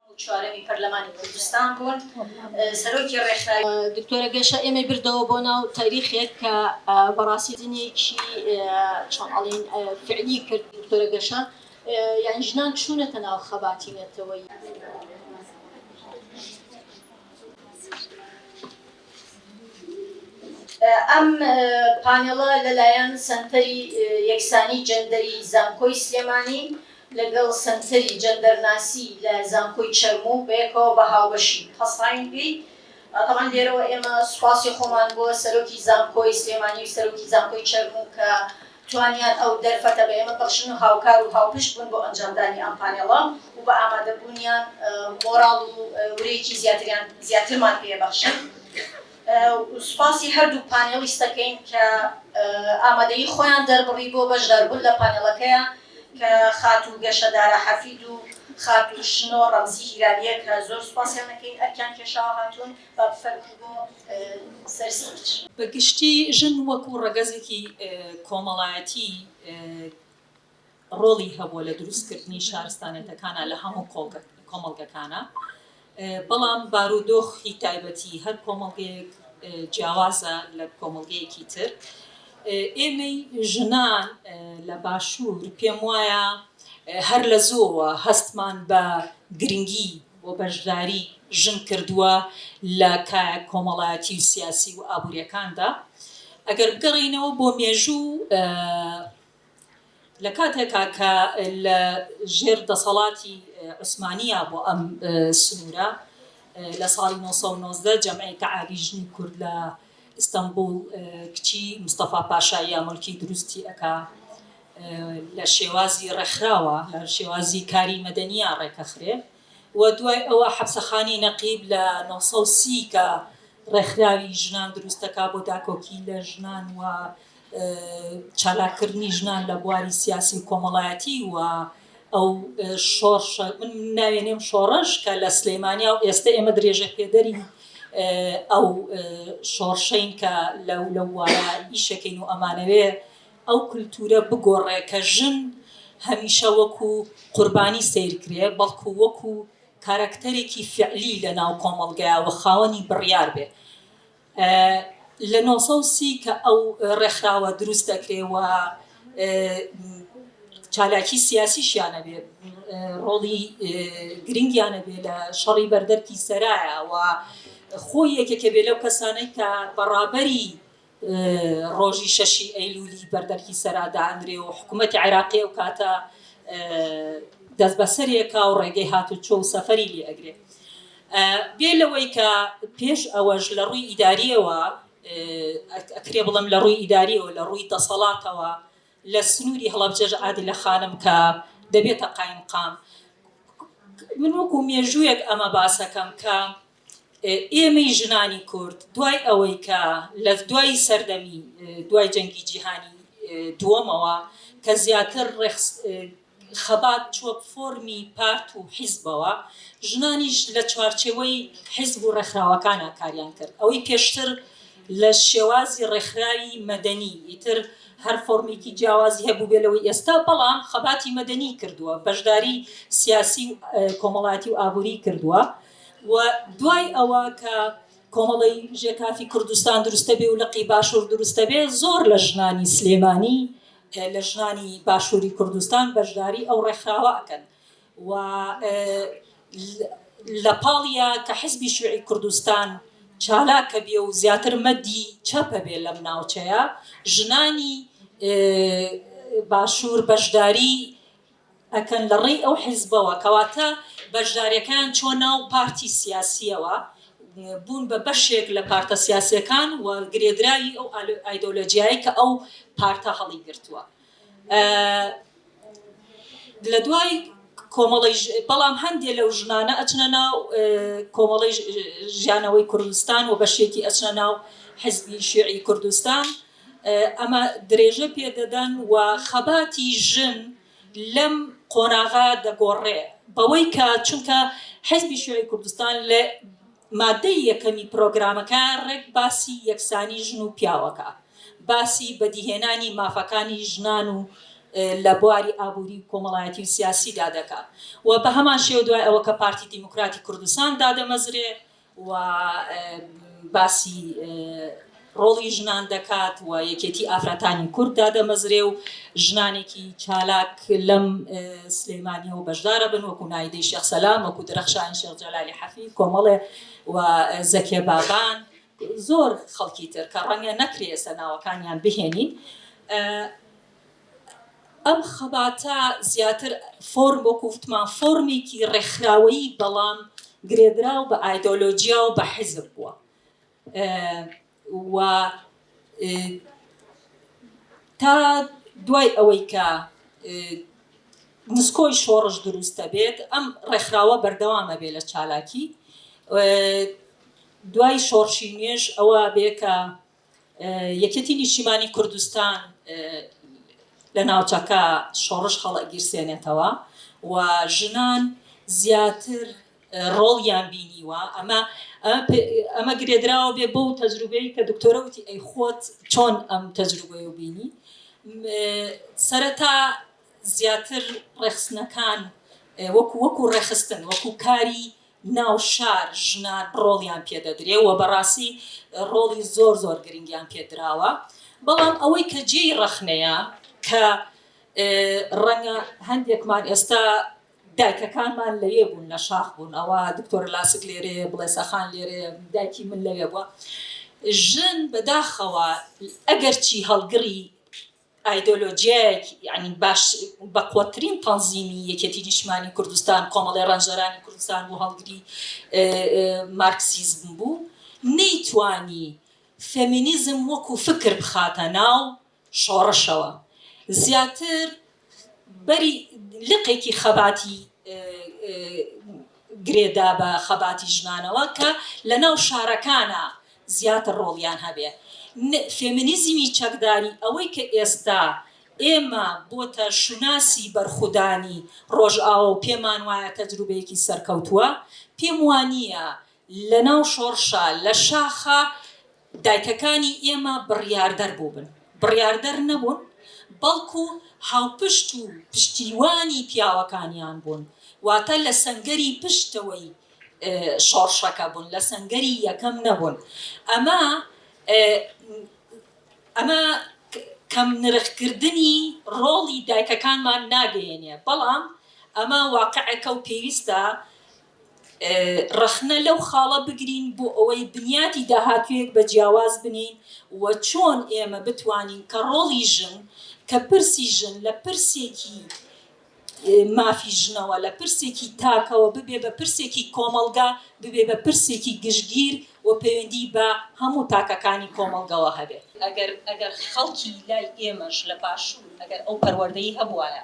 و چوارەمی پەرلەمانی کوردستان بوون سەرۆکی ڕێکخراوی. دکتۆرە گەشە ئێمەی بردەوە بۆ ناو تاریخێک کە بەڕاستی دنیەکی چۆن ئەڵین فعلی کرد دکتۆرە گەشە یان ژنان چوونەتە ناو خەباتی نەتەوەی. ئەم پانێڵە لەلایەن سەنتەری یەکسانی جەندەری زانکۆی سلێمانی، لەگەڵ سەنتەری جەندەرناسی لە زانکۆی چەرموو بەیەکەوە بە هاوبەشی هەسڕاین پێی، تەبعەن لێرەوە ئێمە سوپاسی خۆمان بۆ سەرۆکی زانکۆی سلێمانی و سەرۆکی زانکۆی چەرموو کە توانیان ئەو دەرفەتە بە ئێمە بەخشن و هاوکار و هاوپشت بوون بۆ ئەنجامدانی ئەم پانێڵە و بە ئامادەبوونیان مۆراڵ و ورەیەکی زیاتریان زیاترمان پێ بەخشن. سوپاسی هەردوو پانێڵیست دەکەین کە ئامادەیی خۆیان دەربڕی بۆ بەشداربوون لە پانێڵەکەیان کە خاتوو گەشە دارا حەفید و خاتوو شنۆ ڕەمزی هیلالیە کە زۆر سوپاسیان دەکەین ئەرکیان کێشاوە هاتوون با بفەرموون بۆ سەر ستیج. بە گشتی ژن وەکو ڕەگەزێکی کۆمەڵایەتی، ڕۆڵی هەبووە لە دروست کردنی شارستانێتەکانا لە هەموو کۆمەڵگەکانا بەڵام بارودۆخی تایبەتی هەر کۆمەڵگەیەک جیاوازە لە کۆمەڵگەیەکی تر ئێمەی ژنان لە باشوور پێم وایە هەر لە زۆوە هەستمان بە گرنگی بۆ بەشداری ژن کردووە لە کایە کۆمەڵایەتی و سیاسی و ئابوووریەکاندا ئەگەر بگەڕینەوە بۆ مێژوو لە کاتێکا کە لە ژێر دەسەڵاتی عوسمانییا بۆ ئەم سنوورە لە ساڵی نۆ سەد و نۆزدە جەمعی تەعالی ژنی کورد لە ئیستەنبووڵ کچی مستەفا پاشاییە ملکی دروستی ئەکا لە شێوازی ڕێکخراوە لە شێوازی کاری مەدەنییا ڕێکەخرێ و دوای ئەوە حەپسەخانەی نەقیب لە نۆ سەد و سی کە ڕێکخراوی ژنان دروستەکا بۆ داکۆکی لە ژنان و چالاککردنی ژنان لە بواری سیاسی و کۆمەڵایەتی و ئەو شۆڕشە من ناوێنێم شۆڕش کە لە سلەیمانیا و ئێستا ئێمە درێژە پێدەری ئەو شۆڕشین کە لەو لە وایە ئیشەکەین و ئەمانەوێ ئەو کولتورە بگۆڕێ کە ژن هەمیشە وەکو قوربانی سیرکرێ بەڵکو وەکو کارەکتەرێکی فعلی لە ناو کۆمەڵگایەوە خاوەنی بڕیار بێ لە نۆ سەد و سی کە ئەو ڕێکخراوە دروست دەکرێ و چالاکی سیاسیشیان هەبێ ڕۆڵی گرنگیان هەبێ لە شەڕی بەردەرکی سەرایە و خۆی یەکێکە بێ لەو کەسانەی کە بەڕابەری ڕۆژی شەشی ئەیلولی بەردەرکی سەرا دانرێ و حکوومەتی عێراقی و کاتە دەست بەسەرێکا و ڕێگەی هاتوچۆ و سەفەری لێ ئەگرێ بێ لەوەی کە پێش ئەوەش لە ڕووی ئیدارییەوە، ئەکرێ بڵێم لە ڕووی ئیدارییەوە، لە ڕووی دەسەڵاتەوە لە سنووری هەڵەبجەش عادلە خانم کە دەبێتە قایمقام، من وەکوو مێژوویەک ئەمە باس ئەکەم کە ئێمەی ژنانی کورد دوای ئەوەی کە لە دوای سەردەمی دوای جەنگی جیهانی دووەمەوە کە زیاتر ڕێخست خەبات چووە فۆرمی پارت و حیزبەوە، ژنانیش لە چوارچێوەی حیزب و ڕێکخراوەکانا کاریان کرد، ئەوەی پێشتر لە شێوازی ڕێکخراوی مەدەنی، ئیتر هەر فۆرمێکی جیاوازی هەبووبێ لەوەی ئێستا، بەڵام خەباتی مەدەنی کردووە، بەشداری سیاسی و کۆمەڵایەتی و ئابووری کردووە و دوای ئەوە کە کۆمەڵەی ژێکافی کوردستان دروستەبێ و لقی باشوور دروستەبێ، زۆر لە ژنانی سلێمانی لە ژنانی باشووری کوردستان بەشداری ئەو ڕێکخراوە ئەکەن و لە پاڵیا کە حزبی شیوعی کوردستان چالاکە بێ و زیاتر مەدی چەپە بێ لەم ناوچەیە ژنانی باشوور بەشداری ئەکەن لە ڕێی ئەو حیزبەوە کەواتە بەشداریەکەیان چوە ناو پارتی سیاسیەوە بوون بە بەشێک لە پارتە سیاسیەکان و گرێدراوی ئەو ئایدۆلۆجیایەی کە ئەو پارتە هەڵی گرتوە لە دوای کۆمەڵی بەڵام هەندێک لەو ژنانە ئەچنە ناو کۆمەڵی ژیانەوەی کوردستان و بەشێکی ئەچنە ناو حزبی شێعی کوردستان ئەمە درێژە پێدەدەن و خەباتی ژن لەم قۆناغە دەگۆڕێ بەوەی کە چونکە حیزبی شیوعی کوردستان لە مادەی یەکەمی پرۆگرامەکە ڕێک باسی یەکسانی ژن و پیاوەکە باسی بەدیهێنانی مافەکانی ژنان و لە بواری ئابووری و کۆمەڵایەتی و سیاسیدا دەکا و بە هەمان شێوە دوای ئەوە کە پارتی دیموکراتی کوردستان دادەمەزرێ و باسی ڕۆڵی ژنان دەکات و یەکێتی ئافرەتانی کورد دادەمەزرێ و ژنانێکی چالاک لەم سلێمانیەوە بەشدارە بن وەکو نایدەی شێخ سەلام وەکو درەخشانی شێخ جەلالی حەفی کۆمەڵێ و زەکێ بابان زۆر خەڵکی تر کە ڕەنگە نەکرێ ئێستا ناوەکانیان بهێنین ئەم خەباتە زیاتر فۆرم وەکو وتمان فۆرمێکی ڕێکخراوەیی بەڵام گرێدراو بە ئایدۆلۆجیا و بە حیزب بووە و تا دوای ئەوەی کە نسکۆی شۆڕش دروست دەبێت ئەم ڕێکخراوە بەردەوامە بێ لە چالاکی دوای شۆڕشی نوێژ ئەوە بێ کە یەکێتی نیشتیمانی کوردستان لە ناوچەکە شۆڕش هەڵئەگیرسێنێتەوە و ژنان زیاتر ڕۆڵیان بینیوە ئەمە ئەمە گرێدراوە بێ بۆ و تەجروبەیە کە دکتۆرە وتی ئەی خۆت چۆن ئەم تەجروبەیە و بینی سەرەتا زیاتر ڕێخستنەکان وەکو وەکو ڕێخستن وەکو کاری ناوشار ژنان ڕۆڵیان پێ دەدرێ و بەڕاستی ڕۆڵی زۆر زۆر گرنگیان پێ دراوە بەڵام ئەوەی کە جێی ڕەخنەیە کە ڕەنگە هەندێکمان ئێستا دایکەکانمان لەوێ بوون لە شاخ بوون ئەوە دکتۆر لاسک لێرێ بڵێ سەخان لێرێ دایکی من لەوێ بووە ژن بەداخەوە ئەگەرچی هەڵگڕی ئایدۆلۆژیایەک یانی باش بەقوەترین تەنزیمی یەکێتی نیشتمانی کوردستان کۆمەڵی ڕەنجەرانی کوردستان بوو هەڵگری مارکسیزم بوو نەیتوانی فێمینیزم وەکو فکر بخاتە ناو شۆڕشەوە زیاتر بەری لقێکی خەباتی گرێ دا بە خەباتی ژنانەوە کە لە ناو شارەکانا زیاتر ڕۆڵیان هەبێ. ن فێمینیزمی چەکداری ئەوەی کە ئێستا ئێمە بۆتە شوناسی بەرخودانی ڕۆژئاوا و پێمان وایە تەجروبەیەکی سەرکەوتووە، پێم وا نییە لە ناو شۆڕشا لە شاخا دایکەکانی ئێمە بڕیاردەر بووبن، بڕیاردەر نەبوون، بەڵکو هاوپشت و پشتیوانی پیاوەکانیان بوون، واتە لە سەنگەری پشتەوەی شۆڕشەکە بوون، لە سەنگەری یەکەم نەبوون. ئەمە ئەمە کەمنرخکردنی ڕۆڵی دایکەکانمان ناگەیەنێ، بەڵام ئەمە واقعێکە و پێویستە ڕەخنە لەو خاڵە بگرین بۆ ئەوەی بنیاتی داهاتوویەک بە جیاواز بنێین و چۆن ئێمە بتوانین کە ڕۆڵی ژن، کە پرسی ژن لە پرسێکی مافی ژنەوە، لە پرسێکی تاکەوە ببێ بە پرسێکی کۆمەڵگا، ببێ بە پرسێکی گشتگیر و پەیوەندیی بە هەموو تاکەکانی کۆمەڵگەوە هەبێت. ئەگەر ئەگەر خەڵکی لای ئێمەش لە باشوور ئەگەر ئەو پەروەردەی هەبووایە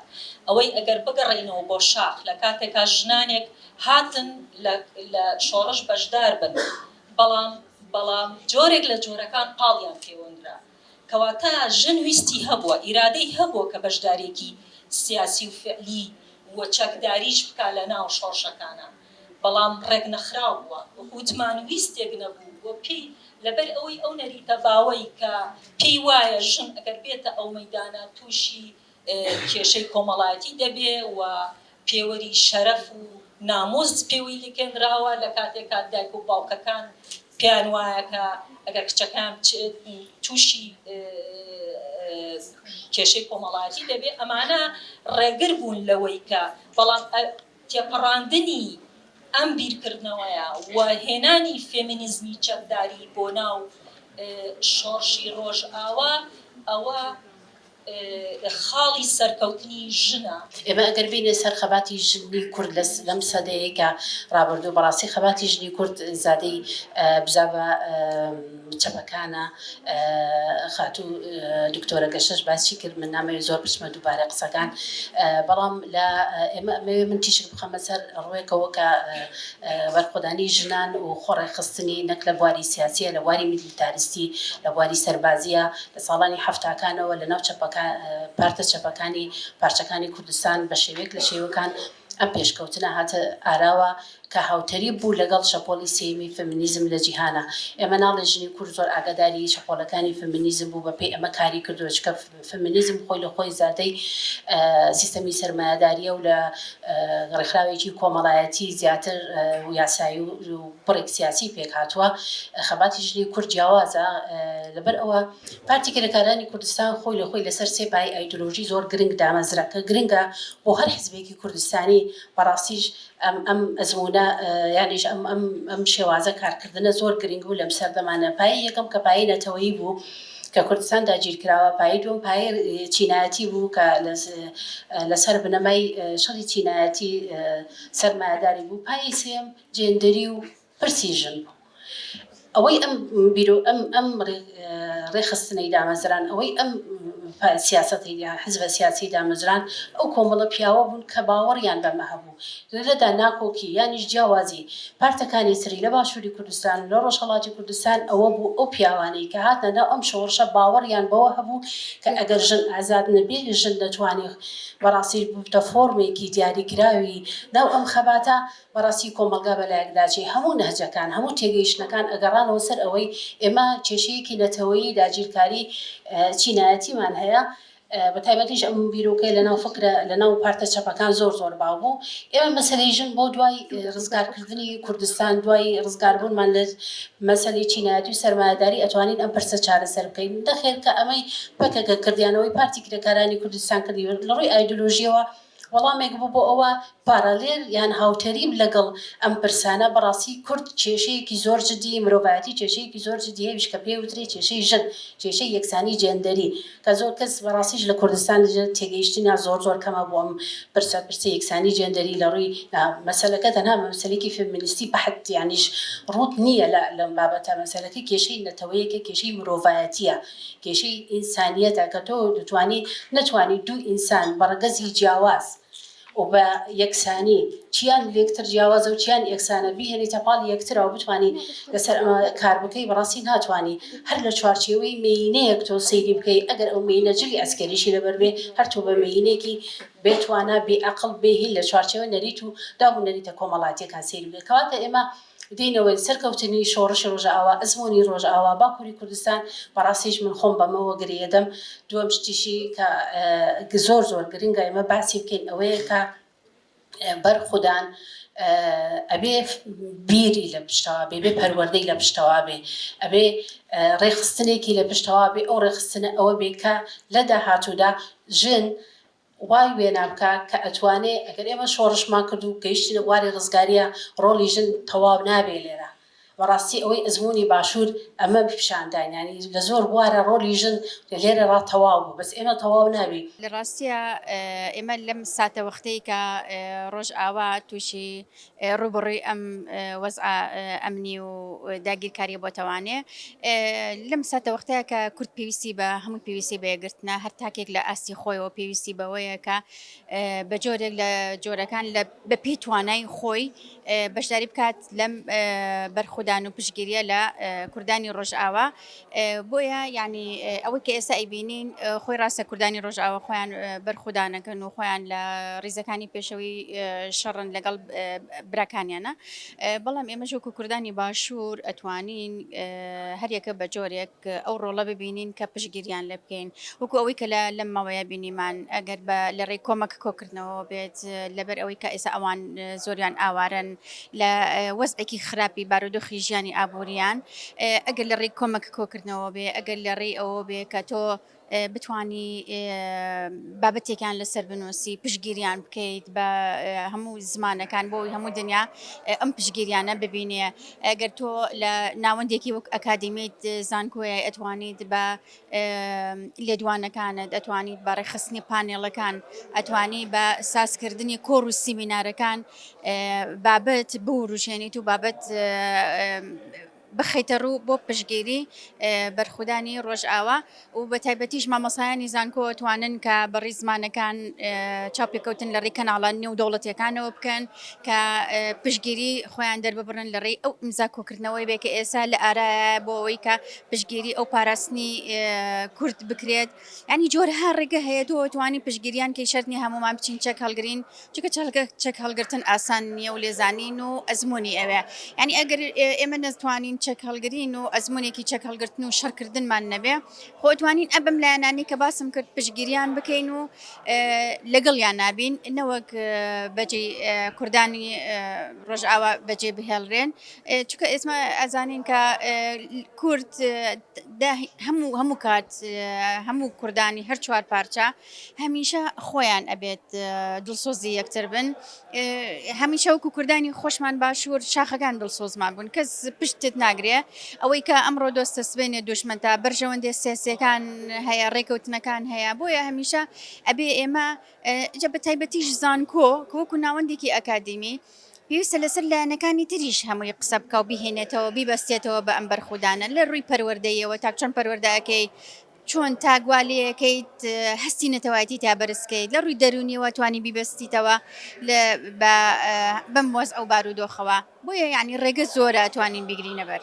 ئەوەی ئەگەر بگەڕێینەوە بۆ شاخ لە کاتێکا ژنانێک هاتن لە لە شۆڕش بەشدار بن بەڵام بەڵام جۆرێک لە جۆرەکان پاڵیان پێوەندرا. کەواتە ژن ویستی هەبووە، ئیرادەی هەبووە کە بەشدارێکی سیاسی و فعلی و چەکداریش بکا لە ناو شۆڕشەکانا، بەڵام ڕێک نەخراو بووە، وەکو وتمان ویستێک نەبوو بۆ پێی، لەبەر ئەوەی ئەو نەریتە باوەی کە پێی وایە ژن ئەگەر بێتە ئەو مەیدانە تووشی کێشەی کۆمەڵایەتی دەبێ و پێوەری شەرەف و نامووس پێوەی لکێنراوە لە کاتێک کە دایک و باوکەکان پێیان وایە کە ئەگەر کچەکان بچێت تووشی کێشەی کۆمەڵایەتی دەبێ ئەمانە ڕێگر بوون لەوەی کە بەڵام تێپەڕاندنی ئەم بیرکردنەوەیە و هێنانی فێمینیزمی چەکداری بۆ ناو شۆڕشی ڕۆژئاوا ئەوە خاڵی سەرکەوتنی ژنە. ئێمە ئەگەر بێینە سەر خەباتی ژنی کورد لە لەم سەدەیەکە ڕابردوو بەڕاستی خەباتی ژنی کورد زادەی بزاڤە چەپەکانە خاتوو دکتۆرە گەشەش باسی کرد من نامەوێت زۆر بچمە دووبارە قسەکان بەڵام لە ئێمە ئەمەوێت من تیشک بخەمە سەر ڕوێکەوە کە بەرخۆدانی ژنان و خۆڕێکخستنی نەک لە بواری سیاسیە لە بواری گیتاریستی لە بواری سەربازییە، لە ساڵانی حەفتاکانەوە لە ناو پارتە چەپەکانی پارچەکانی کوردستان بە شێوەیەک لە شێوەکان ئەم پێشکەوتنە هاتە ئاراوە کە هاوتەریب بوو لەگەڵ شەپۆڵی سێیەمی فێمینیزم لە جیهانا. ئێمە ناڵێ ژنی کورد زۆر ئاگاداری شەپۆلەکانی فێمینیزم بوو بە پێی ئەمە کاری کردووە چونکە فێمینیزم خۆی لە خۆی زادەی سیستەمی سەرمایەدارییە و لە ڕێکخراوێکی کۆمەڵایەتی زیاتر و یاسایی و بڕێک سیاسی پێک هاتووە خەباتی ژنی کورد جیاوازە لەبەر ئەوە پارتی کرێکارانی کوردستان خۆی لە خۆی لەسەر سێ پای ئایدۆلۆژی زۆر گرنگ دامەزرا کە گرنگە بۆ هەر حزبێکی کوردستانی بەڕاستیش ئەم ئەم ئەزموونە یانیش ئەم ئەم ئەم شێوازە کارکردنە زۆر گرنگ بوو لەم سەردەمانە پایی یەکەم کە پایی نەتەوەیی بوو کە کوردستان داگیرکراوە پایی دوم پایی چینایەتی بوو کە لەسەر بنەمای شەڕی چینایەتی سەرمایەداری بوو پایی سێم جێندەری و پرسی ژن بوو ئەوەی ئەم بیرۆ ئەم ئەم ڕێخستنەی دامەزران ئەوەی ئەم سیاسەتی حزبە سیاسی دامەزران ئەو کۆمەڵە پیاوە بوون کە باوەڕیان بەمە هەبوو لەدا ناکۆکی یانیش جیاوازی پارتەکانی سری لە باشووری کوردستان و لە ڕۆژهڵاتی کوردستان ئەوە بوو ئەو پیاوانەی کە هاتنە ناو ئەم شۆڕشە باوەڕیان بەوە هەبوو کە ئەگەر ژن ئازاد نەبێت ژن دەتوانێت بەڕاستی بووتە فۆرمێکی دیاریکراوی ناو ئەم خەباتە بەڕاستی کۆمەڵگا بەلایەکداچێ هەموو نەهجەکان، هەموو تێگەیشتنەکان ئەگەڕانەوە سەر ئەوەی ئێمە کێشەیەکی نەتەوەیی داگیرکاری چینایەتیمان هەیە، بەتایبەتیش ئەم بیرۆکەیە لەناو فکرە، لەناو پارتە چەپەکان زۆر زۆر باو بوو. ئێمە مەسەلەی ژن بۆ دوای ڕزگارکردنی کوردستان، دوای ڕزگاربوونمان لە مەسەلەی چینایەتی و سەرمایەداری ئەتوانین ئەم پرسە چارەسەر بکەین. نەخێر کە ئەمەی پەکەکە کرد یان ئەوەی پارتی کرێکارانی کوردستان کرد لەڕووی ئایدۆلۆژییەوە، وەڵامێک بوو بۆ ئەوە پارالێل یان هاوتەریب لەگەڵ ئەم پرسانە، بەڕاستی کورد کێشەیەکی زۆر جدی، مرۆڤایەتی کێشەیەکی زۆر جدی هەیەویش کە پێی وترێ کێشەی ژن، کێشەی یەکسانی جێندەری کە زۆر کەس بەڕاستیش لە کوردستان تێگەیشتنیان زۆر زۆر کەمە بۆ ئەم پرسە، پرسی یەکسانی جێندەری لە ڕووی مەسەلەکە تەنها بە مەسەلەیەکی فێمینیستی بەحت یانیش ڕووت نییە لە لەم بابەتە، مەسەلەکە کێشەی نەتەوەیەکە، کێشەی مرۆڤایەتییە. کێشەی ئینسانیەتە کە تۆ دەتوانی نەتوانی دوو ئینسان بە ڕەگەزی جیاواز و بە یەکسانی چیان لێکتر جیاوازە و چیان یەکسانە بیهێنیتە پاڵ یەکترەوە بتانی لەسەر ئەمە کار بکەی بەڕاستی ناتوانانی هەر لە چوارچێوەی مینەیەک تۆ سەیری بکەی ئەگەر ئەو مینە جلی ئەسکەریشی لەبەر بێ هەر تۆ بە مینێکی بێتوانە بێئەقڵ بێهیل لە چوارچێوە نەریت و داب و نەریتە کۆمەڵاتیەکان سەیری بکەی کەواتە ئێمە دێنەوەی سەرکەوتنی شۆڕشی ڕۆژئاوا ئەزموونی ڕۆژئاوا باکووری کوردستان بەڕاستیش من خۆم بەمەوە گرێدەم دووەم شتیشی کە زۆر زۆر گرنگە ئێمە باسی بکەین ئەوەیە کە بەرخودان ئەبێ بیری لە پشتەوە بێ بێ پەروەردەی لە پشتەوە بێ ئەبێ ڕێخستنێکی لە پشتەوە بێ ئەو ڕێخستنە ئەوە بێ کە لە داهاتوودا ژن وای وێنا بکە کە ئەتوانێ ئەگەر ئێمە شۆڕشمان کرد و گەیشتینە بواری ڕزگاریە ڕۆڵی ژن تەواو نابێ لێرە بەڕاستی ئەوەی ئەزموونی باشوور ئەمە پیشانداین یانی لە زۆر بوارا ڕۆلی ژن لێرە ڕا تەواو بوو بەس ئێمە تەواو نابی. لە ڕاستیا ئێمە لەم ساتەوەختەی کە ڕۆژئاوا تووشی ڕووبەڕووی ئەم وەزعە ئەمنی و داگیرکاریە بۆتەوانێ لەم ساتەوەختەیە کە کورد پێویستی بە هەموو پێویستی بەیەگرتنە هەر تاکێک لە ئاستی خۆیەوە پێویستی بەوەیە کە بە جۆرێک لە جۆرەکان لە بە پێی توانای خۆی بەشداری بکات لەم بەرخودان و پشگیریە لە کوردانی ڕۆژئاوا بۆیە یانی ئەوەی کە ئێستا ئەیبینین خۆی ڕاستە کوردانی ڕۆژاوە خۆیان بەرخودانەکەن و خۆیان لە ڕیزەکانی پێشەوەی شەڕن لەگەڵ براکانیانە بەڵام ئێمە ژۆک و کوردانی باشوور ئەتوانین هەریەکە بە جۆرێک ئەو ڕۆڵە ببینین کە پشگیریان لێ بکەین وەکو ئەوەی کە لە لەم ماوەیە بینیمان ئەگەر بە لە ڕێی کۆمەک کۆکردنەوە بێت لەبەر ئەوەی کە ئێستا ئەوان زۆریان ئاوارن لە وەزعێکی خراپی بارودۆخی ژیانی ئابوورییان، ئەگەر لە ڕێی کۆمەک کۆکردنەوە بێ، ئەگەر لە ڕێی ئەوە بێ کە تۆ بتوانی بابەتێکیان لەسەر بنووسی، پشتگیریان بکەیت بە هەموو زمانەکان بۆ ئەوەی هەموو دنیا ئەم پشتگیریانە ببینێ. ئەگەر تۆ لە ناوەندێکی وەک ئەکادیمیت زانکۆیە ئەتوانیت بە لێدوانەکانت ئەتوانیت بە ڕێکخستنی پانێڵەکان ئەتوانی بە سازکردنی کۆڕ و سیمینارەکان بابەت بوروژێنیت و بابەت بخیتە ڕوو بۆ پشگیری بەرخودانی ڕۆژئاوا و بە تایبەتیش مامەسایانی زانکۆ توانن کە بەڕی زمانەکان چاپێککەوتن لە ڕێی کەناڵان نێو دەوڵەتەکانەوە بکەن کە پشگیری خۆیان دەرببڕن لە ڕێی ئەو ئیمزا کۆکردنەوەی بێ کە ئێسا لە ئارا بۆ ئەوەی کە پشتگیری ئەو پاراستنی کورد بکرێت ینی جۆرها ڕێگە هەیە تۆ توانی پشتگیریان کەی شەرنی هەمومان بچین چەک هەڵگرین چکە چەلگە چەک هەڵگرتن ئاسان نییە و لێزانین و ئەزمموی ئەوێ ینی ئەگەر ئێمە نەتوانین چەک هەڵگرین و ئەزمونێکی چەک هەڵگرتن و شەرکردنمان نەبێ خۆتوانین ئەبم لایەنانی کە باسم کرد پشتگیریان بکەین و لەگەڵ یان نابین نەوەک بەجێ کوردانی ڕژاوا بەجێ بهێڵرێن چونکە ئێسمە ئەزانین کە کورد هەموو هەموو کات هەموو کوردانی هەر چوار پارچە هەمیشە خۆیان ئەبێت دڵسۆزی یەکتر بن هەمیشە وەکو کوردانی خۆشمان باشوور شاخەکان دڵسۆزمان بوون کەس پشتت ناگرێ ئەوەی کە ئەمڕۆ دۆستە سبێنێ دشمن تا بەرژەوەندێ سیاسەکان هەیە ڕێکەوتنەکان هەیە بۆیە هەمیشە ئەبێ ئێمە جە بە تایبەتیش زانکۆ کۆکو ناوەندێکی ئەکادیمی پێویستە لەسەر لایەنەکانی تریش هەمووی قسە بکا و بیهێنێتەوە بیبەستێتەوە بە ئەم بەرخودانە لە ڕووی پەروەردەیەوە تا چۆن پەروەردەکەی چۆن تاگوا لەکەیت هەستی نەتەوایەتی تا بەرزکەیت لە ڕووی دەرونیەوە توانی بیبەستیتەوە بەم وەز ئەو بارودۆخەوە بۆیە یعنی ڕێگە زۆرە توانین بیگرینەبەر.